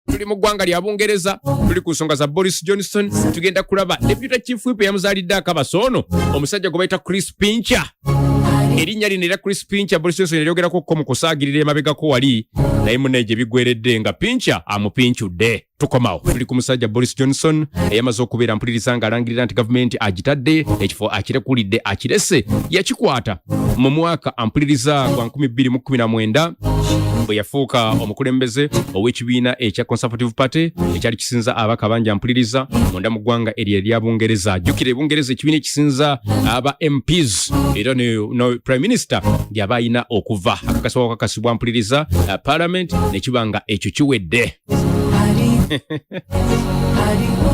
tuli mu ggwanga lya bungereza tuli ku nsonga za boris johnson tugenda kulaba deputa chief whip yamuzaalidde akabasa ono omusajja gwe bayita chris pincha erinnya lino era chris pincha boris johnson eryogerako ko mu kusaagirira emabegako wali naye munaye gye bigweredde nga pincha amupincudde tukomawo tuli ku musajja boris johnson eyamaze okubeera mpuliriza ng'alangirira nti gavumenti agitadde ekifo akirekulidde akirese yakikwata mu mwaka ampuliriza gwa 2019 bwe yafuuka omukulembeze ow'ekibiina ekya conservative party ekyali kisinza abaka bangi ampuliriza munda mu ggwanga eryo erya bungereza jjukira ebungereza ekibiina ekisinza aba mps era no prime minister gyaba alina okuva akakasibwa wakakasibwa mpuliriza uh, parliament nekiba nga ekyo kiwedde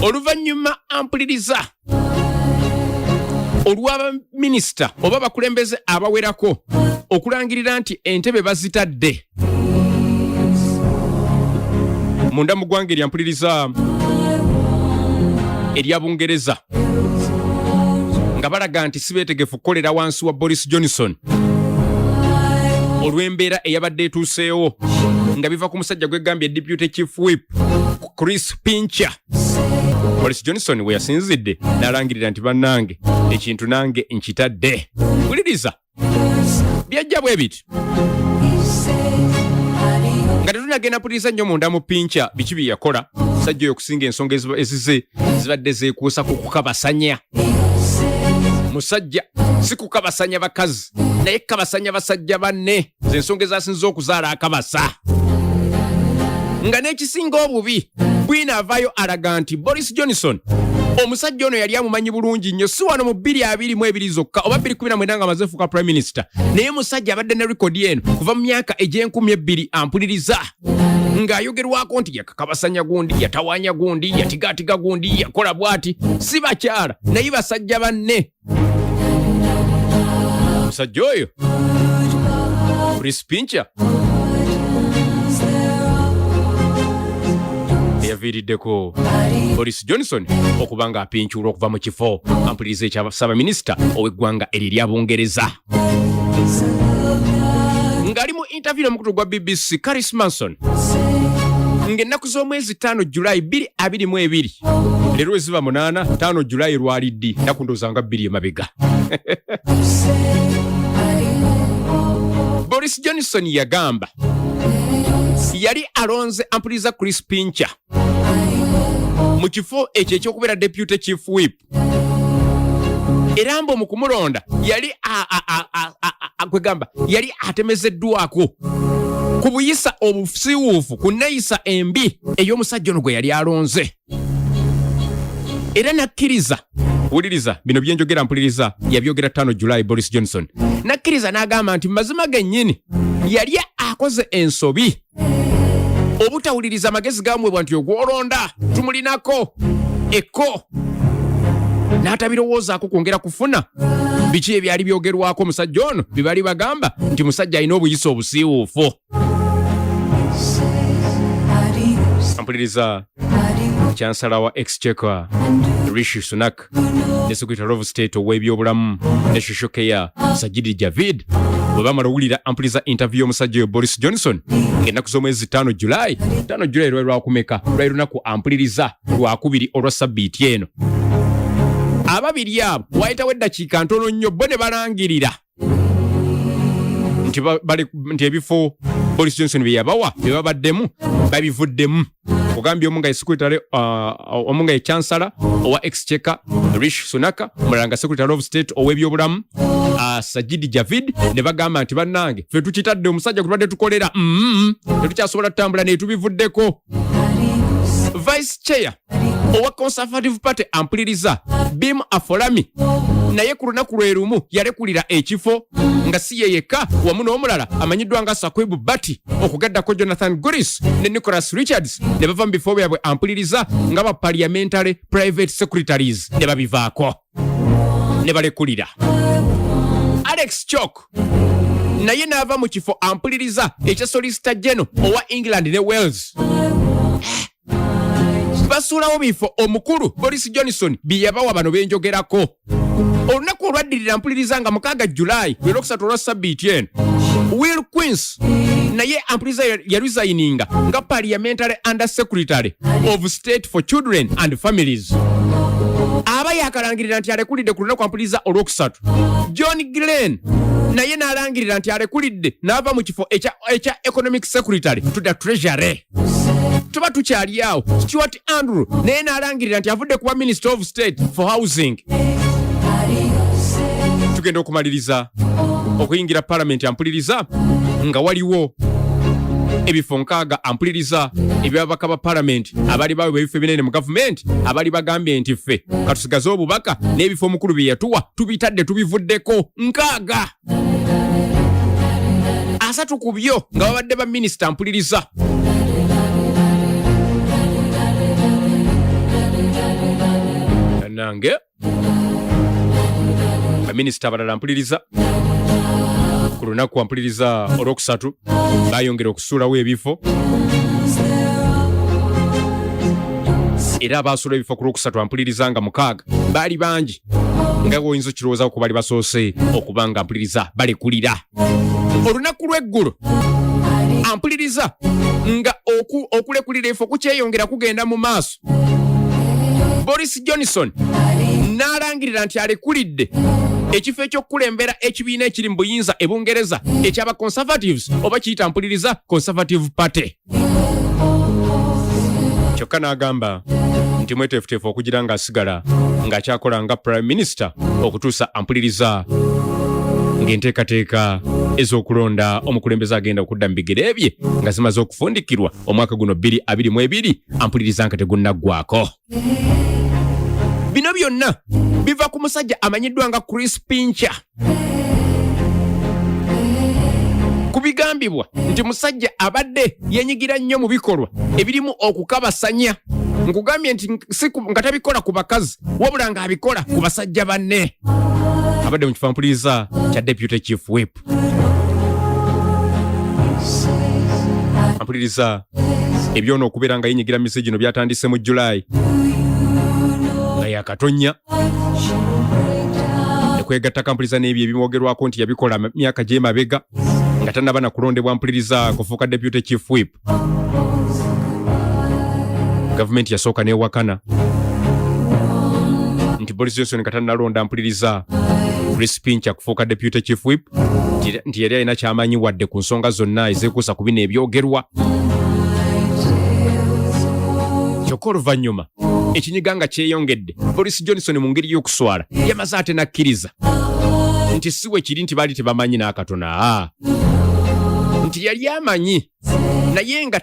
oluvannyuma ampuliriza olw'abaminisita oba bakulembeze abawerako okulangirira nti entebe bazitadde munda mu ggwanga eryampuliriza erya bungereza nga balaga nti si beetegefu kukolera wansi wa boris johnson olw'embeera eyabadde etuuseewo nga biva ku musajja gwegambye deputy chief whip chris pincher Boris Johnson we yasinzidde n'alangirira nti bannange ekintu nange nkitadde wuliriza byajja bwe biti nga tetunagenda puliriza nnyo munda mu pinca biki bye yakola sajja oyo okusinga ensonga ezize zibadde zeekuusa ku kukabasanya musajja si kukabasanya bakazi naye kukabasanya basajja banne ze nsonga ezasinza okuzaala akabasa nga n'ekisinga obubi bwina avaayo alaga nti boris johnson omusajja ono yali amumanyi bulungi nnyo si wano mu 222 zokka oba 219 nga amaze fuuka prime minister naye musajja abadde ne rekodi eno kuva mu myaka egy'enkumi ebbiri ampuliriza ng'ayogerwako nti yakakabasanya gundi yatawaanya gundi yatigaatiga gundi yakola bw'ati si bakyala naye basajja banne omusajja oyo prispinca eyaviiriddeko boris johnson okuba nga apincuulwa okuva mu kifo ampuliriza ekya ssaabaminisita ow'eggwanga eryo erya bungereza ng'ali mu interview n'omukutu gwa bbc caris manson ng'ennaku z'omwezi 5 julayi 222 leero eziba 8 5 julayi lwali ddi ennaku ndooza nga bbiri emabega boris johnson yagamba yali alonze ampuliriza chris pincher mu kifo ekyo ekyokubeera deputy chief whip era mbu mukumulonda yali kwegamba yali atemezeddwako ku buyisa obusiwuufu ku neyisa embi ey'omusajja ono gwe yali alonze era nakkiriza wuliriza bino byenjogera mpuliriza yabyogera tano july boris johnson nakkiriza n'agamba nti mazima gennyini yali akoze ensobi obutawuliriza amagezi gamwebwa nti ogwolonda tumulinako ekko n'atabirowoozaako kwongera kufuna biki ebyali byogerwako omusajja ono bye bali bagamba nti musajja alina obuyisa obusiiwuufu mpuliriza chansala wa exchequer rishi sunak Park ne Secretary of State ow'ebyobulamu ne Social Care Sajid Javid bwe bamala owulira ampuliza interview y'omusajja oyo Boris Johnson ng'ennaku z'omwezi ttaano July ttaano July lwali lwakumeka lwali lunaku ampuliriza lwakubiri olwa sabbiiti eno ababiri abo waayitawo eddakiika ntono nnyo bo ne balangirira nti nti ebifo boris johnson byeyabawa byebabaddemu babivuddemu ogambye omu nga esekretary uh, omu nga ekyansala owa exchecker rish sunaka omulala nga secretary of state ow'ebyobulamu uh, sajidi javid ne bagamba nti bannange fe tukitadde omusajja gwe tubadde tukolera mm-hmm. tetukyasobola tutambula netubivuddeko vice chair owa conservative party ampuliriza bim afolami naye ku lunaku lwe lumu yalekulira ekifo nga si ye yekka wamu n'omulala amanyiddwa nga sakwibu bati okugaddako jonathan guris ne nicholas richards ne bava mu bifo byabwe ampuliriza nga ba parliamentary private secretaries ne babivaako ne balekulira alex chok naye n'ava mu kifo ampuliriza ekya solisita geno owa england ne wales basuulawo bifo omukulu boris johnson bye yabawa bano benjogerako olunaku olwaddirira mpuliriza nga mukaaga julayi lwe lwokusatu olwa sabbiiti eno will queens naye ampuliriza yaresigninga nga parliamentary under secretary of state for children and families aba yakalangirira nti alekulidde ku lunaku ampuliriza olwokusatu john glen naye n'alangirira nti alekulidde n'ava mu kifo ekya economic secretary to the treasury tuba tukyali awo stuart andrew naye n'alangirira nti avudde kuba minister of state for housing tugenda okumaliriza okuyingira palamenti ampuliriza nga waliwo ebifo nkaaga ampuliriza ebyababaka ba palamenti abali bawebwa ebifo ebinene mu gavumenti abali bagambye nti ffe katusigaze obubaka n'ebifo omukulu bye yatuwa tubitadde tubivuddeko nkaaga asatu ku byo nga babadde ba minisita mpuliriza nange baminisita abalala mpuliriza ku lunaku ampuliriza olwokusatu bayongera okusuulawo ebifo era abaasula ebifo ku lwokusatu ampuliriza nga mukaaga baali bangi nga gwoyinza okirowooza ku bali basoose okuba nga mpuliriza balekulira olunaku lw'eggulo ampuliriza nga okulekulira efo kukyeyongera kugenda mu maaso boris johnson n'alangirira nti alekulidde ekifo ekyokukulembera ekibiina ekiri mu buyinza e bungereza ekyaba conservatives oba kiyita mpuliriza conservative party kyokka n'agamba nti mweteefuteefu okugira ng'asigala ng'akyakola nga prime minister okutuusa ampuliriza ng'enteekateeka ez'okulonda omukulembeze agenda okudda mu bigere bye nga zimaze okufundikirwa omwaka guno 222 ampuliriza nga tegunnaggwako bino byonna biva ku musajja amanyiddwa nga chris pincher kibigambibwa nti musajja abadde yenyigira nnyo mu bikolwa ebirimu okukabasanya nkugambye nti nga tabikola ku bakazi wabula ng'abikola ku basajja banne abadde mu kifampuliriza kya deputy chief whip mpuliriza ebyona okubeera nga yenyigira misi gino byatandise mu julayi nga yakatonya ekwegatta kampuliriza n'ebyo ebimwogerwako nti yabikola myaka gyemabega nga tanaba nakulondebwa mpuliriza kufuuka deputy chief whip gavumenti yasooka newakana nti boris johnson katanalonda mpuliriza chris pincha kufuuka deputy chief whip nti yali alina kyamanyi wadde ku nsonga zonna ezekuusa ku bino ebyogerwa kyokka oluvannyuma ekinyiga nga kyeyongedde boris johnson mu ngeri y'okuswala yamaze ate n'akkiriza nti si we kiri nti baali tebamanyi n'akatona nti yali amanyi naye nga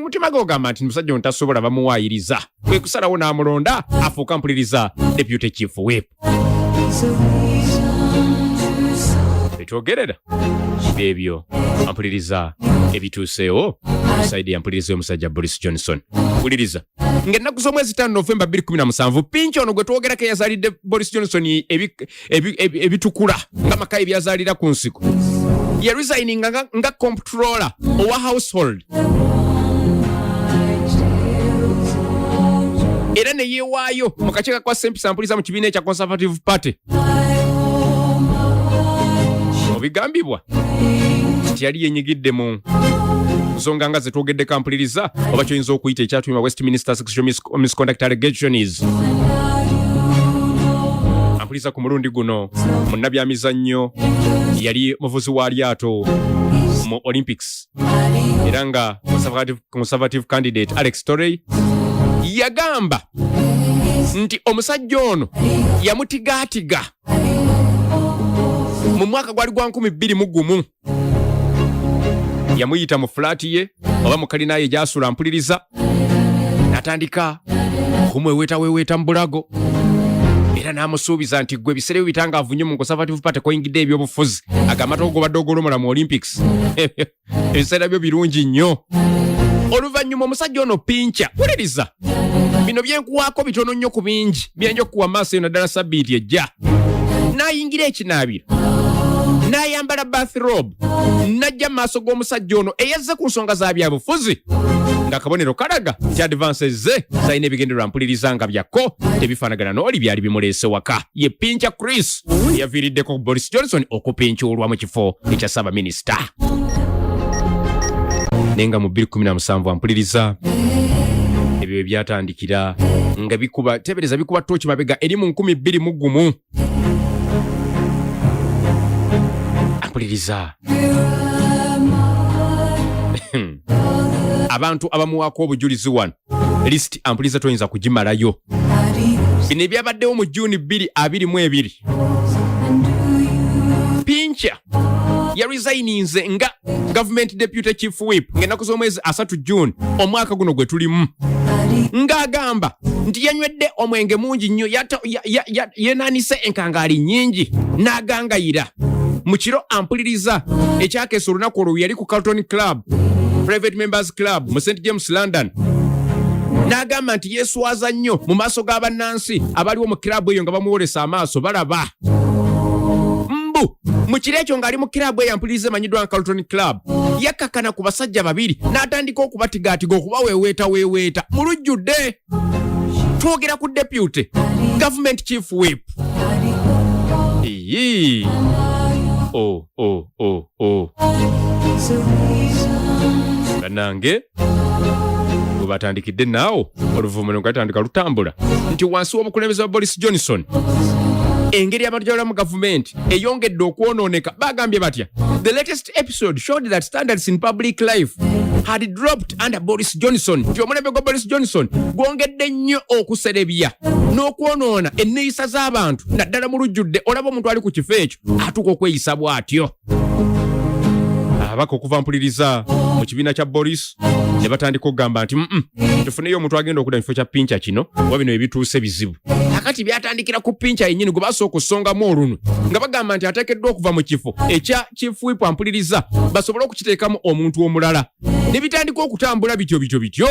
mutima gwe ogamba nti musajja ontasobola bamuwaayiriza kwe kusalawo n'amulonda afuuka mpuliriza deputy chief whip betwogerera ebyo ampuliriza ebituuseewo saidi yampuliriza y'omusajja boris johnson wuliriza ng'ennaku z'omwezi taano novemba 217 pinki ono gwe twogerako eyazaalidde boris johnson ebitukula nga maka ebyazalira ku nsiko ye resigning nga, nga comptroller owa household era ne yeewaayo mu kakiiko kwa sempisa mpuliza mu kibiina ekya conservative party obigambibwa nti yali yenyigidde mu nsonga nga zetwogeddeko ampuliriza oba kyoyinza okuyita ekyatuuma westminster sexual misconduct allegations ampuliza ku mulundi guno munnabyamizannyo yali muvuzi wa lyato mu olympics era nga conservative candidate alex torrey yagamba nti omusajja ono yamutigaatiga mu mwaka gwali gwa 2 mu gumu yamuyita mu fulaati ye oba mu kalina ye gyasula mpuliriza natandika okumweweetaweeweeta mu bulago era n'amusuubiza nti gwe ebiseera byo bitangaavu nnyo mu conservative party koyingidde ebyobufuzi agamba togobadde ogolomola mu olympics ebiseera byo birungi nnyo oluvannyuma omusajja ono pinca wuliriza bino byenkuwaako bitono nnyo ku bingi byenja okukuwa maaso eno ddala sabbiiti ejja nayingira ekinaabiro nayambala bathrob najja mu maaso g'omusajja ono eyazze ku nsonga za byabufuzi nga kabonero kalaga nti advances ze zalina ebigendererwa mpuliriza nga byakko tebifaanagana n'oli byali bimuleese waka ye Pincha Chris yaviiriddeko Boris Johnson okupincuulwa mu kifo ekya ssaabaminisita naye nga mu 2017 ampuliriza ebyo bye byatandikira nga bikuba teebereza bikuba tooki mabega eri mu nkumi bbiri mu gumu ampuliriza abantu abamuwaako obujulizi wano list ampuliza toyinza kugimalayo bino ebyabaddewo mu juni 22 pinca yarisayininze nga gavumenti deputy chief whip ng'ennaku z'omwezi asatu june omwaka guno gwe tulimu ng'agamba nti yanywedde omwenge mungi nnyo yenanise enkangaali nnyingi n'agangayira mu kiro ampuliriza ekyakeesa olunaku olwo yali ku carlton club private members club mu st james london n'agamba nti yeeswaza nnyo mu maaso ga bannansi abaliwo mu kiraabu eyo nga bamuwolesa amaaso balaba mbu mu kiro ekyo ng'ali mu kiraabu eyo ampuliriza emanyiddwa nga carlton club yakkakana ku basajja babiri n'atandika okubatigaatiga okubaweeweetaweeweeta mu lujjudde twogera ku deputy government chief whip Iyi. Oh, oh, oh, oh. banange webatandikidde naawo oluvumula ngatandika lutambula nti wansi w'obukulembeze wa boris johnson engeri abantu gyabalamu gavumenti eyongedde okwonooneka bagambye batya the latest episode episode showed that standards in public life had dropped under Boris Johnson nti omulembe gwa Boris Johnson gwongedde nnyo okuserebya n'okwonoona enneeyisa z'abantu naddala mu lujjudde olaba omuntu ali ku kifo ekyo atuuka okweyisa bw'atyo ababaka okuva mpuliriza mu kibiina kya boris ne batandika okugamba nti mm tufuneyo omuntu agenda okuda mukifo kya pinca kino oba bino ebituuse bizibu akati byatandikira ku pinca yennyini gwe basooka okusongamu olunwe nga bagamba nti ateekeddwa okuva mu kifo ekya chief whip ampuliriza basobole okukiteekamu omuntu omulala ne bitandika okutambula bityo bityo bityo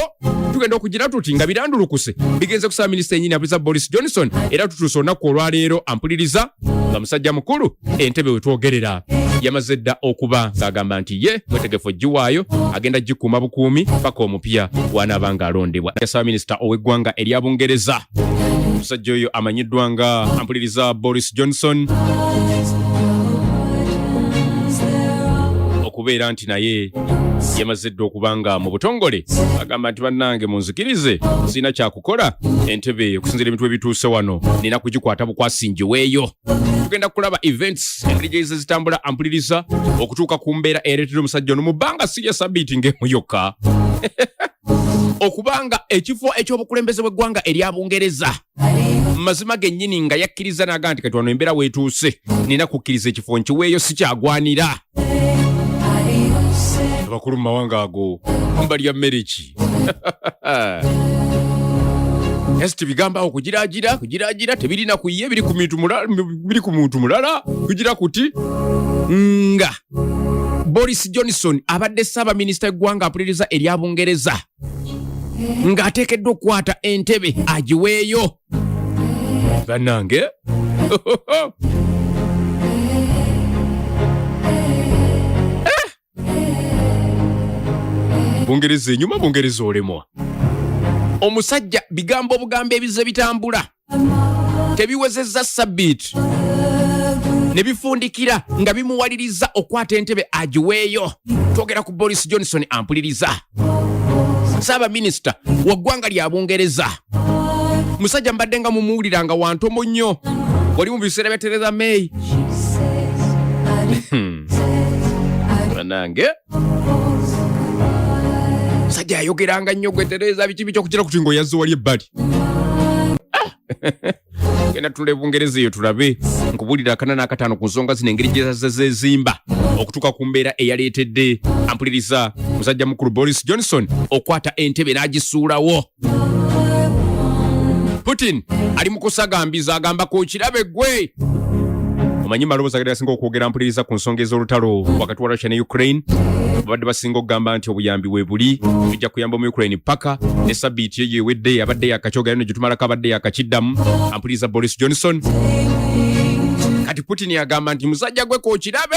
tugenda okugira tuti nga birandulukuse bigenze kusaba minisita yenyini abuliza boris johnson era tutuuse olunaku olwaleero ampuliriza nga musajja mukulu entebe wetwogerera yamaze dda okuba ng'agamba nti ye mwetegefu ogiwaayo agenda gikuuma bukuumi paka omupya wanaaba ng'alondebwa yasaba minisita ow'eggwanga erya bungereza omusajja oyo amanyiddwa nga ampuliriza boris Janet Johnson okubeera nti naye yamaze dda okuba nga mu butongole agamba nti bannange munzikirize sirina kyakukola entebe okusinzira ebintu ebituuse wano nina kugikwata bukwasi ngiweeyo tugenda kulaba events engeri gyeze zitambula ampuliriza okutuuka ku mbeera eyareetera omusajja ono mu bbanga sirya sabiiti ng'emu yokka okubanga ekifo eky'obukulembeze bw'eggwanga erya bungereza mazima gennyini nga yakkiriza naga nti kati wano embeera weetuuse nina kukkiriza ekifo nkiweeyo sikyagwanira abakulu mu mawanga ago mbalya mmere ki Yes, tibigamba awo kugiragira kugiragira tebirina kuye biri ku muntu mulala biri ku muntu mulala kugira kuti nga Boris Johnson abadde ssaabaminisita eggwanga apuliriza erya Bungereza ng'ateekeddwa okukwata entebe agiweeyo bannange bungereza enyuma bungereza olemwa omusajja bigambo obugambo ebize bitambula tebiwezezza sabbiiti ne bifundikira nga bimuwaliriza okwata entebe agiweeyo twogera ku boris johnson ampuliriza ssaabaminisita wa ggwanga lya bungereza musajja mbadde nga mumuwulira nga wantomo nnyo oli mu biseera bya tereza may hmm. banange musajja yayogeranga nnyo gwetereeza biki biki okukira kuti ngaoyazze wali ebbali ah! genda tula ebungereza eyo tulabe nkubulira akana n'akataano ku nsonga zino engeri gyezazze zezimba okutuuka ku mbeera eyaleetedde ampuliriza musajja mukulu boris johnson okwata entebe n'agisuulawo putin ali mu kusagambiza agamba ku kirabe gwe omanyi maloboozi agali gasinga okwogera mpuliriza ku nsonga ez'olutalo wakati wa russia ne ukraine babadde basinga okugamba nti obuyambi we buli tujja kuyamba mu ukraine paka ne sabiiti eyo ewedde abadde yakakyogayo ne gyetumalako abadde yakakiddamu ampuliriza boris johnson kati putin agamba nti musajja gwe kokirabe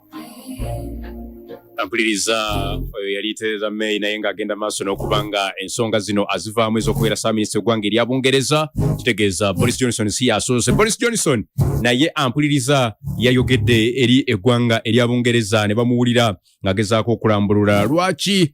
ampuliriza oyo eh, yali Theresa May naye ng'agenda maaso n'okuba nga ensonga zino azivaamu ez'okubeera saaminista eggwanga erya Bungereza kitegeeza Boris Johnson si yasoose Boris Johnson naye ampuliriza yayogedde eri eggwanga erya Bungereza ne bamuwulira ng'agezaako okulambulula lwaki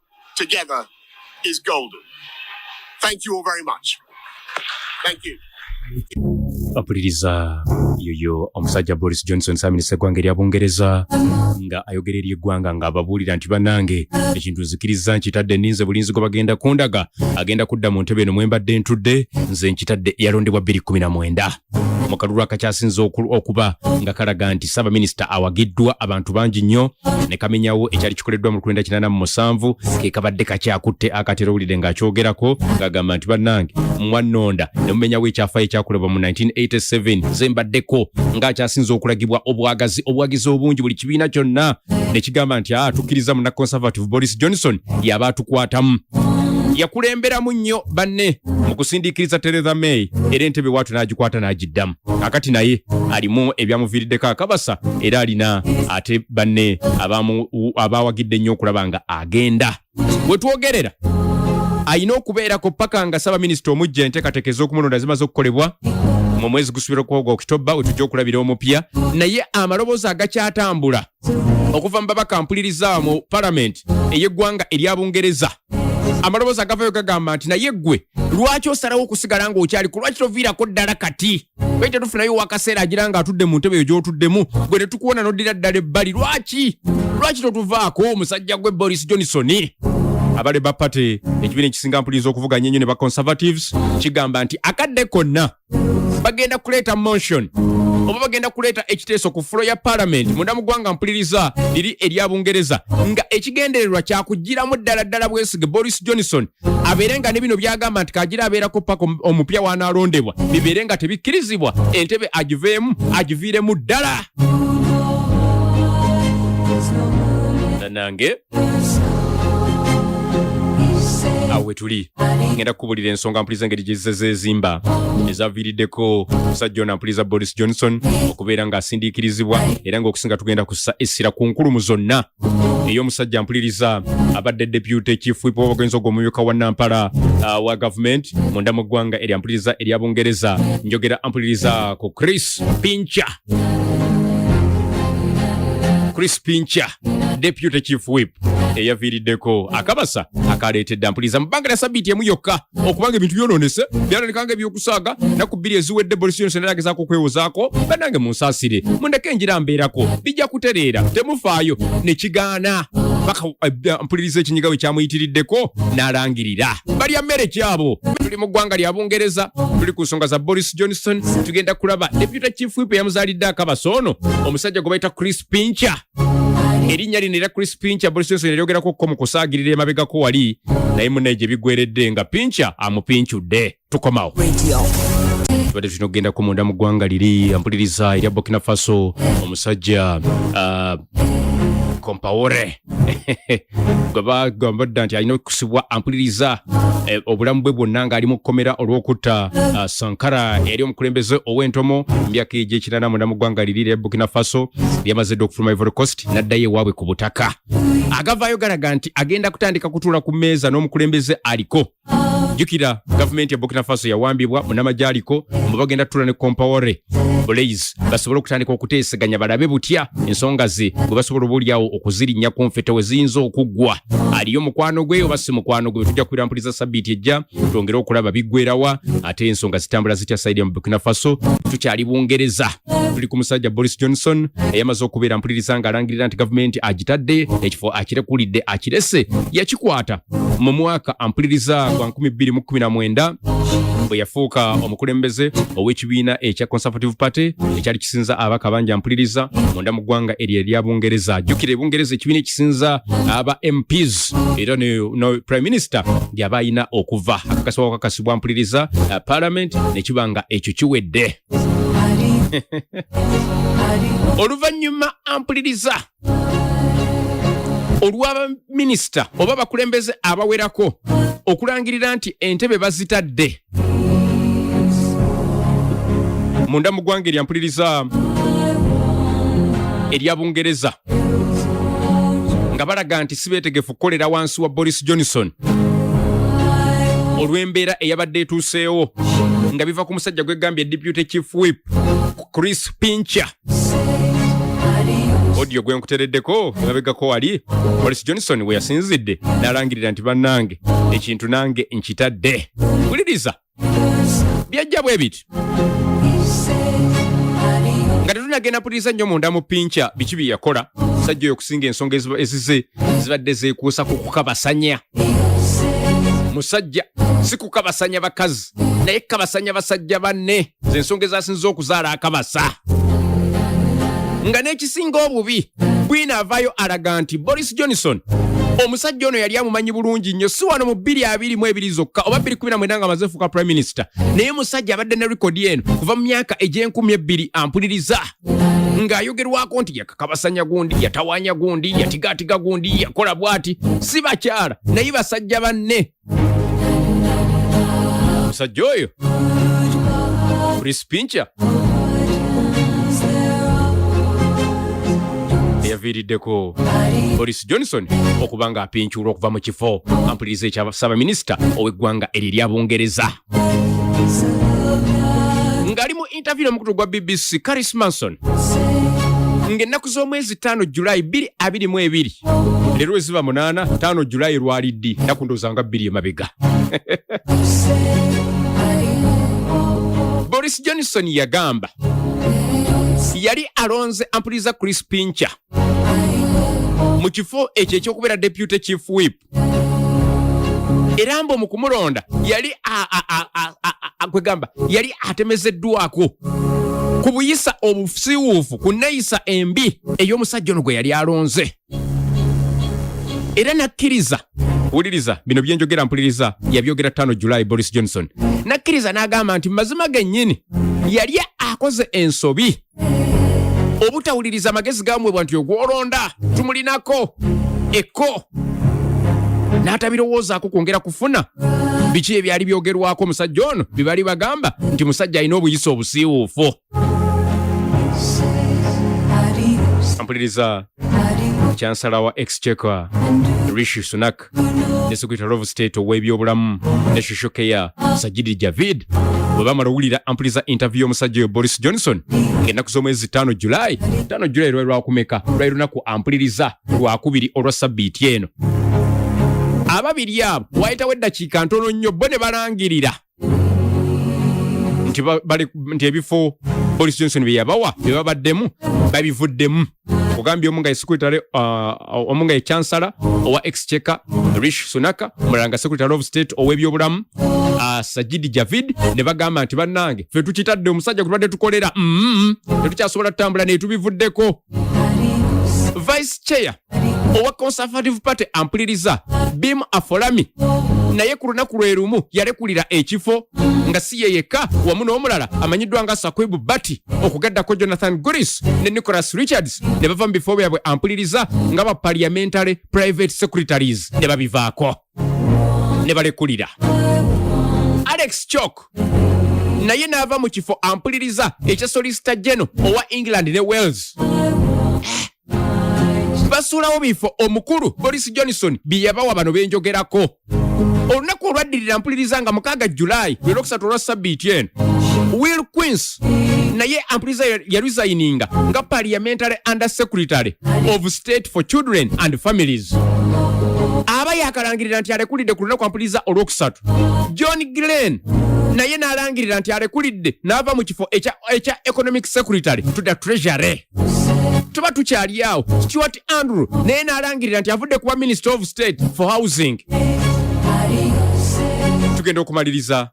together is golden. Thank you all very much. Thank you. bapuliriza yoyo omusajja boris johnson saaminisa eggwanga erya bungereza nga ayogera eri eggwanga ng'ababuulira nti banange ekintu nzikiriza nkitadde ninze bulinzi gwe bagenda kundaga agenda kudda mu ntebe eno mwembadde ntudde nze nkitadde yalondebwa 219 mu kalulu akakyasinze okuba nga kalaga nti ssaabaminisita awagiddwa abantu bangi nnyo ne kamenyawo ekyali kikoleddwa mu lukulenda kinana mu musanvu ke kabadde kakyakutte akatera owulidde ng'akyogerako ng'agamba nti bannange mwannonda ne mumenyawo ekyafaayo ekyakolebwa mu 1987 ze mbaddeko ng'akyasinze okulagibwa obwagazi obwagizi obungi buli kibiina kyonna ne kigamba nti a ah, tukkiriza mu na conservative boris johnson yaba atukwatamu yakulemberamu nnyo banne mu kusindiikiriza Theresa May era entebe waatu n'agikwata n'agiddamu akati naye alimu ebyamuviiriddeko akabasa era alina ate banne abaawagidde ennyo okulaba nga agenda we twogerera alina okubeerako paka nga ssaabaminisita omujja enteekateeka ez'okumulonda zimaze okukolebwa mu mwezi gusubira okwoga okitobba we tujja okulabira omupya naye amaloboozi agakyatambula okuva mu babaka mpuliriza mu palamenti ey'eggwanga erya bungereza amaloboozi agavayo gagamba nti naye ggwe lwaki osalawo okusigala ng'okyali ku lwaki toviirako ddala kati lwaki tetufunayo wakaseera agira nga atudde mu ntebe eyo gy'otuddemu gwe ne tukuwona n'oddira ddala ebbali lwaki lwaki totuvaako omusajja gwe boris johnson abale ba pate ekibiina ekisinga mpuliriza okuvuganya ennyo ne ba conservatives kigamba nti akadde konna bagenda kuleeta motion oba bagenda kuleeta ekiteeso ku fulo ya palamenti munda mu ggwanga mpuliriza liri erya bungereza nga ekigendererwa kyakugiramu ddala ddala bwesige boris johnson abeere nga ne bino byagamba nti kagira abeerako paka omupya wanaalondebwa bibeere nga tebikkirizibwa entebe agiveemu agiviiremu ddala nange awo wetuli ngenda kukubulira ensonga mpuliza engeri gyezizezezimba ezaviiriddeko musajja ono ampuliza boris johnson okubeera ng'asindiikirizibwa era ng'okusinga tugenda kussa essira ku nkulumu zonna ey'omusajja mpuliriza abadde depute chief whip w'obugenzi ogwo omumyuka wa nampala ah, wa gavumenti munda mu ggwanga erya mpuliriza erya bungereza njogera ampuliriza ku chris pincha chris pincha deputy chief whip eyaviiriddeko akabasa akaleetedde ampuliza mu bbanga lya sabiiti emu yokka okubanga ebintu byonoonese byalonekanga ebyokusaaga naku bbiri eziwedde bolisi yonse naye agezaako okwewozaako banange munsaasire mundeke engira mbeerako bijja kutereera temufaayo ne kigaana paka eh, mpuliriza ekinyiga we kyamuyitiriddeko n'alangirira balya mmere kyabo tuli mu ggwanga lya bungereza tuli ku nsonga za boris johnson tugenda kulaba deputy chief whip eyamuzaalidde akabasa ono omusajja gwe bayita chris pincher erinnya lino era chris pincha boris johnson eryogerako ko mu kusaagirira emabegako wali naye munaye gye bigweredde nga pincha amupinchudde tukomawo tubadde tulina okugenda ku munda mu ggwanga liri ampuliriza erya burkina faso omusajja uh, compaore bagamba dda nti alina okusibwa ampuliriza eh, obulamu bwe bwonna ng'ali mu kkomera olw'okutta ah, sankara eyali omukulembeze ow'entomo myaka egyekirana munda mu ggwanga liri lya burkina faso lyamaze dda okufuluma ivory coast n'addayo ewaabwe ku butaka agavaayo galaga nti agenda kutandika kutuula ku mmeeza n'omukulembeze aliko jukira gavumenti ya burkina faso yawambibwa munamagye aliko mbu bagenda tula ne compawore blaze basobole okutandika okuteeseganya balabe butya ensonga ze bwe basobola obaolyawo okuzirinnya ku nfete we ziyinza okuggwa aliyo mukwano gwe oba si mukwano gwe betujja kubira mpuliza sabbiiti ejja twongere okulaba biggwerawa ate ensonga zitambula zitya saidi ya mu burkina faso tukyali bungereza tuli ku musajja Boris Johnson eyamaze okubeera mpuliriza ng'alangirira nti gavumenti agitadde ekifo akirekulidde akirese yakikwata mu mwaka ampuliriza gwa 2019 bwe yafuuka omukulembeze ow'ekibiina ekya Conservative Party ekyali kisinza abaka bangi ampuliriza munda mu ggwanga eryo erya Bungereza ajjukira ebungereza ekibiina ekisinza aba MPs era no Prime Minister yaba alina okuva akakasibwa wakakasibwa mpuliriza uh, Parliament nekiba nga ekyo kiwedde oluvannyuma ampuliriza olw'abaminisita oba bakulembeze abawerako okulangirira nti entebe bazitadde munda mu ggwanga eryampuliriza erya bungereza nga balaga nti sibeetegefu kukolera wansi wa boris johnson olw'embeera eyabadde etuuseewo nga biva ku musajja gwegambye deputy chief whip chris pincher odio gwe nkutereddeko emabegako wali boris johnson we yasinzidde n'alangirira nti bannange ekintu nange nkitadde wuliriza byajja bwe biti nga tetunagenda puliriza nnyo munda mu pinca biki bye yakola sajja oyo okusinga ensonga ezize zibadde zeekuusa ku kukabasanya musajja si kukabasanya bakazi naye kabasanya basajja banne zensonga ezasinza okuzaala akabasa nga n'ekisinga obubi bwina avaayo alaga nti boris johnson omusajja ono yali amumanyi bulungi nnyo si wano mu bbiri abiri mu ebiri zokka oba bbiri kumi na mwenda nga amaze fuuka prime minister naye musajja abadde ne rekodi eno kuva mu myaka egy'enkumi ebbiri ampuliriza ng'ayogerwako nti yakakabasanya gundi yatawanya gundi yatigaatiga gundi yakola bwati si bakyala naye basajja banne omusajja oyo prispinca eyaviiriddeko boris johnson okuba ng'apincuulwa okuva mu kifo ampuliriza ekya ssaabaminisita ow'eggwanga eryo erya bungereza ng'ali mu interview n'omukutu gwa bbc caris manson ng'ennaku z'omwezi ttaano julayi bbiri abiri mu ebiri leero eziba munaana ttaano julayi lwali ddi ennaku ndowooza nga bbiri emabega boris johnson yagamba yali alonze ampuliriza chris pincher mu kifo ekyo ekyokubeera deputy chief whip era mbu mukumulonda yali kwegamba yali atemezeddwako ku buyisa obusiwuufu ku neyisa embi ey'omusajja ono gwe yali alonze era nakkiriza wuliriza bino byenjogera mpuliriza yabyogera tano july boris johnson nakkiriza n'agamba nti mazima gennyini yali akoze ensobi obutawuliriza magezi gamwebwa nti ogwolonda tumulinako ekko n'atabirowoozaako kwongera kufuna biki ebyali byogerwako omusajja ono bye bali bagamba nti musajja alina obuyisa obusiiwuufu mpuliriza chansala wa exchequer rishi sunak Iraq ne Secretary of State ow'ebyobulamu ne Social Care Sajid Javid bwe bamala owulira ampuliza interview y'omusajja oyo Boris Johnson ng'ennaku z'omwezi ttaano July ttaano July lwali lwakumeka lwali lunaku ampuliriza lwakubiri olwa sabbiiti eno ababiri abo wayitawo eddakiika ntono nnyo bo ne balangirira nti nti ebifo boris johnson byeyabawa byebabaddemu babivuddemu ogambye omu nga esekretary uh, omu nga ekyansala owa exchecker rish sunaka omulala nga secretary of state ow'ebyobulamu uh, sajidi javid ne bagamba nti bannange fe tukitadde omusajja gwe tubadde tukolera mm-hmm. tetukyasobola tutambula netubivuddeko vice chair owa conservative party ampuliriza bim afolami naye ku lunaku lwe lumu yalekulira ekifo nga si ye yekka wamu n'omulala amanyiddwa nga sakwibu bati okugaddako jonathan guris ne nicholas richards ne bava mu bifo byabwe ampuliriza nga ba parliamentary private secretaries ne babivaako ne balekulira alex chok naye n'ava mu kifo ampuliriza ekya solisita geno owa england ne wales basuulawo bifo omukulu boris johnson bye yabawa bano benjogerako olunaku olwaddirira mpuliriza nga mukaaga julayi lwe lwokusatu olwa sabbiiti eno will queens naye ampuliriza yaresigninga nga parliamentary under secretary of state for children and families aba yakalangirira nti alekulidde ku lunaku ampuliriza olwokusatu john glen naye n'alangirira nti alekulidde n'ava mu kifo ekya economic secretary to the treasury tuba tukyali awo stuart andrew naye n'alangirira nti avudde kuba minister of state for housing tugenda okumaliriza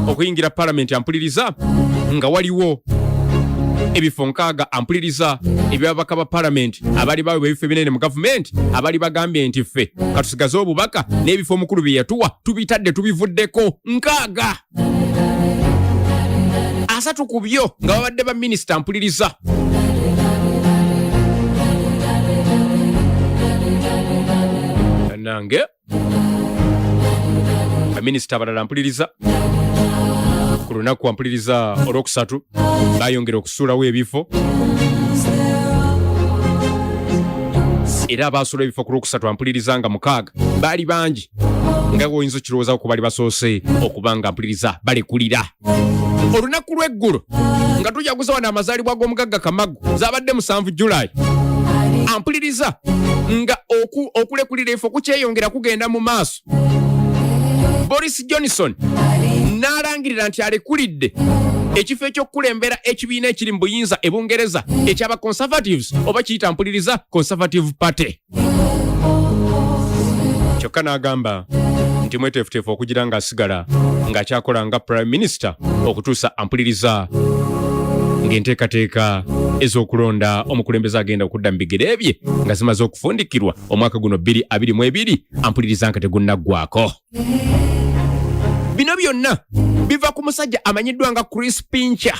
okuyingira palamenti ampuliriza nga waliwo ebifo nkaaga ampuliriza ebyababaka ba palamenti abali bawebwa ebifo ebinene mu gavumenti abali bagambye nti ffe katusigaze obubaka n'ebifo omukulu bye yatuwa tubitadde tubivuddeko nkaaga asatu ku byo nga babadde ba minisita mpuliriza nange baminisita abalala mpuliriza ku lunaku ampuliriza olwokusatu bayongera okusuulawo ebifo era abaasula ebifo ku lwokusatu ampuliriza nga mukaaga baali bangi nga gwoyinza okirowoozawo ku bali basoose okuba nga mpuliriza balekulira olunaku lw'eggulo nga tujaguza wano amazaalibwa g'omugagga kamagu zabadde musanvu julayi ampuliriza nga okulekulira efe okukyeyongera kugenda mu maaso boris johnson n'alangirira nti alekulidde ekifo ekyokukulembera ekibiina ekiri mu buyinza e bungereza ekyaba conservatives oba kiyita mpuliriza conservative party kyokka n'agamba nti mweteefuteefu okugira ng'asigala ng'akyakola nga prime minister okutuusa ampuliriza ng'enteekateeka ez'okulonda omukulembeze agenda okudda mu bigere bye nga zimaze okufundikirwa omwaka guno 222 ampuliriza nga tegunnaggwako bino byonna biva ku musajja amanyiddwa nga chris pincher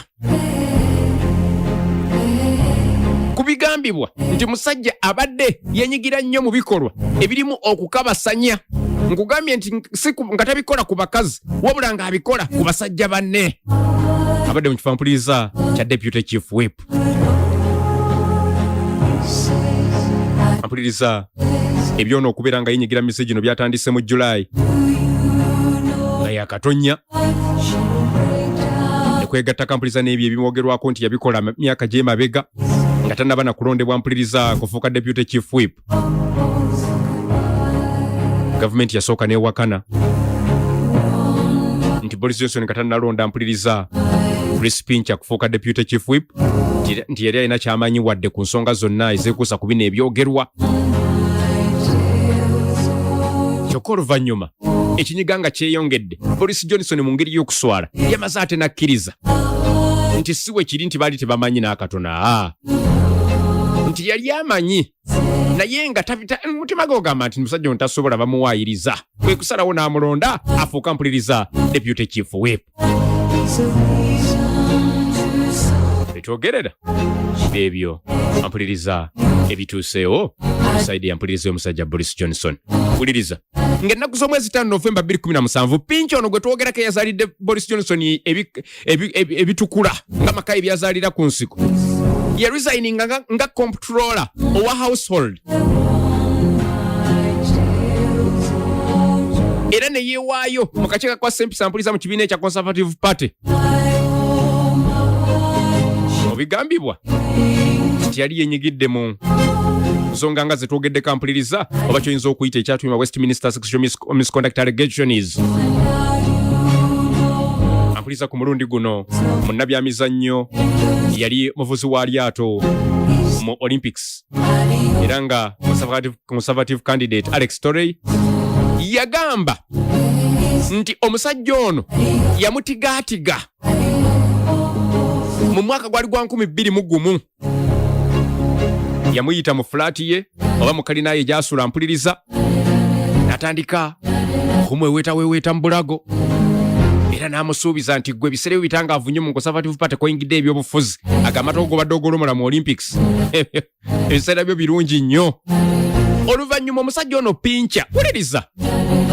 kibigambibwa nti musajja abadde yenyigira nnyo mu bikolwa ebirimu okukabasanya nkugambye nti nga tabikola ku bakazi wabula ng'abikola ku basajja banne abadde mu kifampuliriza kya deputy chief wep mpuliriza ebyona okubeera nga yenyigira misi gino byatandise mu julayi nga yakatonya ekwegatta kampuliriza n'ebyo ebimwogerwako nti yabikola myaka gyemabega nga tanaba na kulondebwa mpuliriza kufuuka deputy chief whip gavumenti yasooka newakana nti boris johnson nga tanalonda mpuliriza chris pincha kufuuka deputy chief whip nti yali alina kyamanyi wadde ku nsonga zonna ezekuusa ku bino ebyogerwa kyokka oluvannyuma ekinyiga nga kyeyongedde boris johnson mu ngeri y'okuswala yamaze ate n'akkiriza nti si we kiri nti baali tebamanyi n'akatona nti yali amanyi naye nga mutima gwe ogamba nti musajja ono tasobola bamuwaayiriza kwe kusalawo n'amulonda afuuka mpuliriza deputy chief whip etwogerera ebyo ampuliriza ebituuseewo saidi yampuliriza omusajja boris johnson wuliriza ng'ennaku z'omwezi taano novemba 217 pinki ono gwe twogerako eyazaalidde boris johnson ebitukula nga maka ebyazalira ku nsiko ye resigning nga, nga comptroller owa household era ne yeewaayo mu kakiiko kwa sempisa mpuliza mu kibiina ekya conservative party obigambibwa nti yali yenyigidde mu nsonga nga zetwogeddeko ampuliriza oba kyoyinza okuyita ekyatuma westminster sexual misconduct allegations ampuliriza ku mulundi guno munnabyamizannyo yali muvuzi wa lyato mu olympics era nga conservative candidate alex torrey yagamba nti omusajja ono yamutigaatiga mu mwaka gwali gwa 2 mu gumu yamuyita mu fulaati ye oba mu kalina ye gyasula mpuliriza natandika okumweweetaweeweeta mu bulago era n'amusuubiza nti gwe ebiseera byo bitangaavu nnyo mu conservative party koyingidde ebyobufuzi agamata ogobadde ogolomola mu olympics ebiseera byo birungi nnyo oluvannyuma omusajja ono pinca wuliriza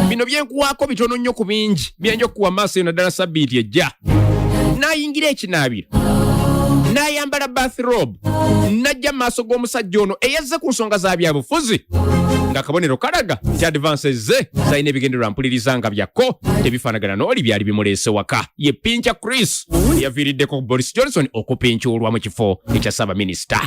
bino byenkuwaako bitono nnyo ku bingi byenja okukuwa maaso eno ddala sabbiiti ejja nayingira ekinaabiro nayambala bathrob najja maaso g'omusajja ono eyazze ku nsonga za byabufuzi nga kabonero kalaga nti advances ze zalina ebigendererwa mpuliriza nga byakko tebifaanagana n'oli byali bimuleese waka ye pinca chris yaviiriddeko boris johnson okupincuulwa mu kifo ekya ssaabaminisita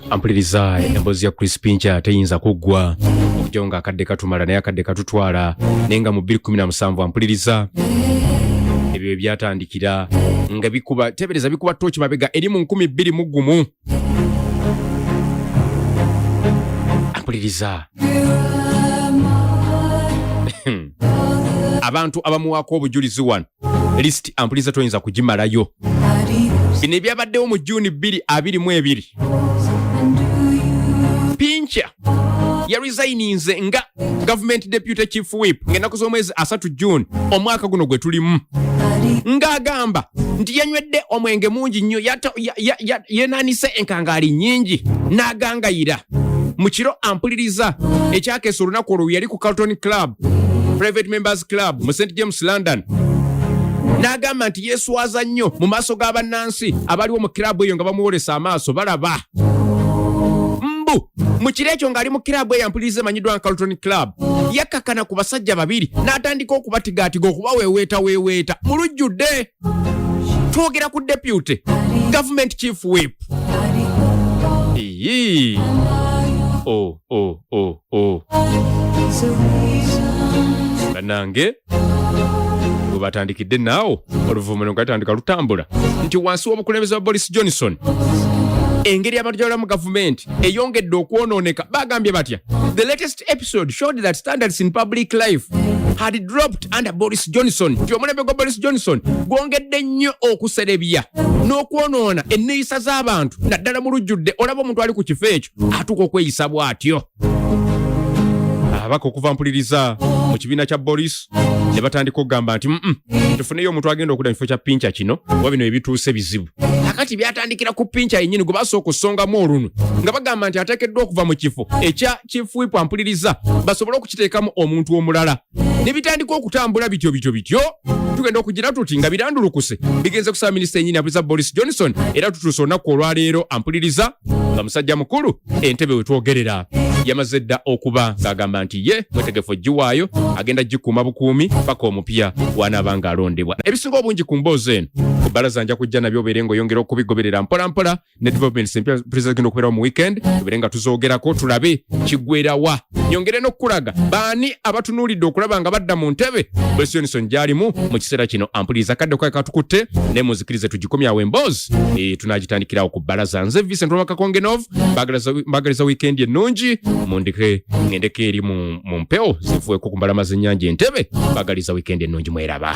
ampuliriza emboozi ya crispinca teyinza kuggwa okujjawo nga akadde katumala naye akadde katutwala naye nga mu 217 ampuliriza ebyo ebyatandikira nga bikuba tebereza bikuba tooki mabega eri mu 2 mu gumu ampuliriza abantu abamuwaako obujulizi wano list ampuliza toyinza kugimalayo bino ebyabaddewo mu juni 222 pinca yarisayininze nga gavumenti deputy chief whip ng'ennaku z'omwezi asatu june omwaka guno gwe tulimu ng'agamba nti yanywedde omwenge mungi nnyo yenanise enkangaali nnyingi n'agangayira mu kiro ampuliriza ekyakeesa olunaku olwo yali ku carlton club private members club mu st james london n'agamba nti yeeswaza nnyo mu maaso ga bannansi abaliwo mu kiraabu eyo nga bamuwolesa amaaso balaba mbu mu kiro ekyo ng'ali mu kiraabu eyo ampuliriza emanyiddwa nga carlton club yakkakana ku basajja babiri n'atandika okubatigaatiga okubaweeweetaweeweeta mu lujjudde twogera ku deputy government chief whip Iyi. Oh, oh, oh, oh. banange webatandikidde naawo oluvumano nga gatandika lutambula nti wansi w'obukulembeze wa boris johnson engeri abantu gyabalamu gavumenti eyongedde okwonooneka bagambye batya the latest last episode showed that standards in public life had dropped under Boris Johnson. Nti omulembe gwa Boris Johnson gwongedde nnyo okuserebya n'okwonoona enneeyisa z'abantu naddala mu lujjudde olaba omuntu ali ku kifo ekyo atuuka okweyisa bw'atyo. Ababaka okuva mpuliriza mu kibiina kya Boris ne batandika okugamba nti mm tufuneyo omuntu agenda okuda mu kifo kya pinca kino kuba bino ebituuse bizibu kakati byatandikira ku pinca yennyini gwe basooka okusongamu olunwe nga bagamba nti ateekeddwa okuva mu kifo ekya kyefuipu ampuliriza basobole okukiteekamu omuntu omulala ne bitandika okutambula bityo bityo bityo tugenda okugira tuti nga birandulukuse bigenze kusaba minisita enyini abuliza boris johnson era tutuuse olunaku olwaleero ampuliriza nga musajja mukulu entebe wetwogerera yamaze dda okuba ng'agamba nti ye mwetegefu ogiwaayo agenda gikuuma bukuumi paka omupya wanaaba ng'alondebwa ebisinga obungi ku mboozi eno ku bbalaza nja kujja nabyo obeere ng'oyongera okubigoberera mpolampola ne developments empya pulezida zigenda okubeerawo mu weekend tubeere nga tuzoogerako tulabe kigwerawa nyongere n'okukulaga baani abatunuulidde okulaba nga badda mu ntebe boris johnson gy'alimu mu kiseera kino ampuliriza kadde kwake katukutte ne muzikirize tugikomyawo emboozi e, tunagitandikirawo ku bbalaza nze vincent wamakakongenov mbagaliza wiikendi ennungi mundike ngendeko eri mu mu mpewo zivueko ku mbalama z'ennyanja entebe mbagaliza wiikendi ennungi mweraba